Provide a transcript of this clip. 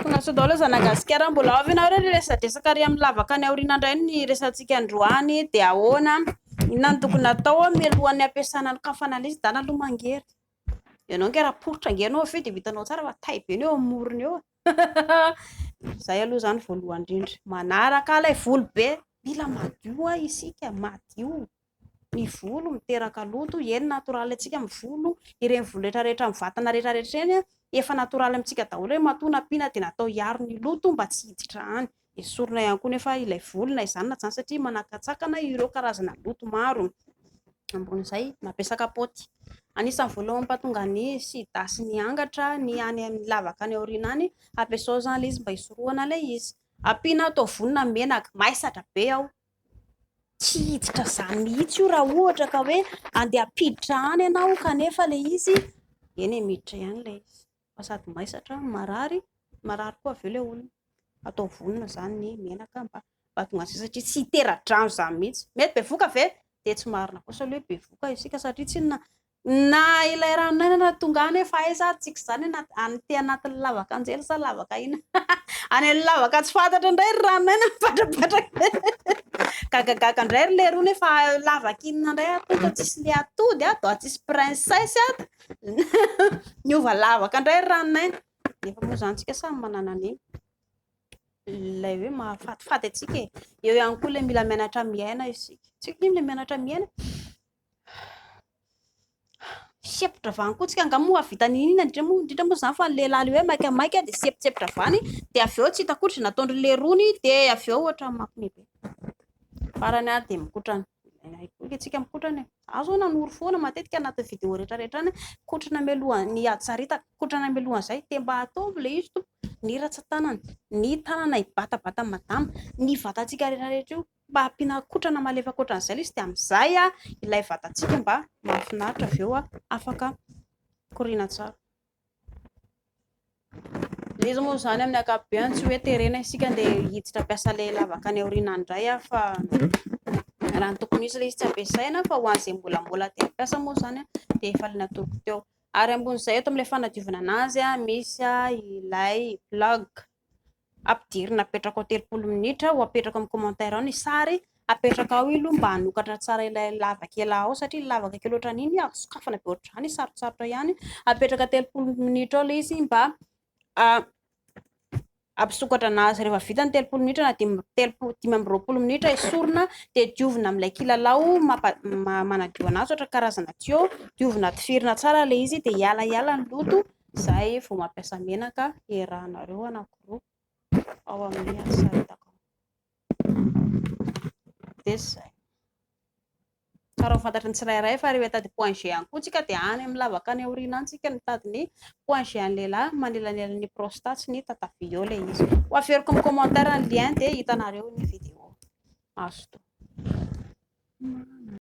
Konatso daholo ry zanagasikara, mbola ao ve nareo re resadresaka ary amin'ny lavaka any aoriana indray ny resantsika androany dia ahoana, inona no tokony atao mialohan'ny hampiasana ny kafana an'ilay izy, dana aloha mangery, ianao ange raha poritra ange ianao avy eo dia ho hitanao tsara fa tay be ny eo amin'ny morony eo e, izay aloha izany voalohany indrindra, manaraka ilay volo be, mila madio ho'a isika, madio. ny volo miteraka loto, eny natoraly antsika amin'ny volo, ireny volo rehetra rehetra amin'ny vatana rehetra rehetra ireny efa natoraly amintsika daholo hoe matoa nampiana dia natao hiaro ny loto mba tsy hiditra any, esorina ihany koa nefa ilay volo na izany na izany satria manakantsakana ireo karazana loto maro, ambonin'izay mampiasa kapaoty, anisan'ny voalohany mampatonga ny sida sy ny angatra ny any amin'ny lavaka any aoriana any, ampiasao izany ilay izy mba hisorohana ilay izy, ampiana ato volo na menaka, maizatra be ao, Tsy hiditra izany mihitsy io raha ohatra ka hoe andeha hampiditra any ianao kanefa ilay izy eny e miditra ihany ilay izy fa sady maisatra marary marary koa avy eo ilay olona atao vonona izany ny menaka mba mba tonga izay satria tsy hitera-drano izany mihitsy mety bevoka ve dia tsy marina kosa ilay hoe bevoka isika satria tsinona Na ilay Ranonainana tonga any fa aiza ary tsika izany any te anatin'ny lavaka anjely sa lavaka aina any amin'ny lavaka tsy fantatra indray ry Ranonainana mipatrapatraka gagagaga indray ry leroa nefa lavaka inona indray ary tonga tsisy le atody ato ah tsisy princesse ato niova lavaka indray ry Ranonaina nefa moa izany tsika samy manana ny ilay hoe mahafatifaty antsika e eo ihany koa ilay mila mianatra miaina isika tsika ilay mianatra miaina Sempotra vany koa tsika, angaha moa hahavita ny inona indrindra moa indrindra moa izany fa ny lehilahy ilay hoe maika maika dia sempotsepitra vany dia avy eo tsy hita akory izay nataon'ry leirony dia avy eo ohatran'ny mampime be. Farany ary dia mikotrana. Aiky tsika mikotrana e. Za zao nanoro foana matetika anaty vidéo rehetra rehetra any kotrana mialoha ny hajaritaka, kotrana mialoha izay dia mba ataovy ilay izy tompo, ny ratsan-tanana, ny tanana hibatabata madama, ny vatantsika rehetra rehetra io. mba ampiana kotrana malefaka ohatran'izay ilay izy dia amin'izay ilay vatantsika mba mahafinaritra avy eo afaka mikoriana tsara. Ilay izy moa izany amin'ny ankapobeny tsy hoe terena isika dia hiditra mpiasa ilay lavaka any aoriana indray fa raha ny tokony izy ilay izy tsy ampiasaina fa ho an'izay mbola mbola dia mpiasa moa izany dia efa ilay natoloko teo. Ary ambon'izay eto amin'ilay fanadiovana anazy misy ilay blog. Ampidirina apetraka ao telopolo minitra ho apetraka amin'ny commentaire ao ny sary apetraka ao io mba hanokatra tsara ilay lava kely ao satria lavaka kely ohatrany iny azo sokafana be ohatrany sarotsarotra ihany apetraka telopolo minitra ao ilay izy mba ah, ampisokatra anazy rehefa vita ny telopolo minitra na dimy telopolo dimy amby roapolo minitra esorina dia diovina amin'ilay kilalao mampa, manadio anazy ohatra karazana tuyau diovina tifirina tsara ilay izy dia hiala hiala ny loto Izay vao mampiasa menaka iarahanareo anankiroa ao amin'ny asa hitako. Dia izay. Tsara ho fantatry ny tsirairay fa rehefa hitady point G ihany koa tsika dia any amin'ny lavaka any aoriana any tsika mitady ny point G an'ny lehilahy manelanelana ny prostate sy ny tatavia eo ilay izy. Ho averiko amin'ny commentaire ny lien dia hitanareo ny vidéo. Mazotoa.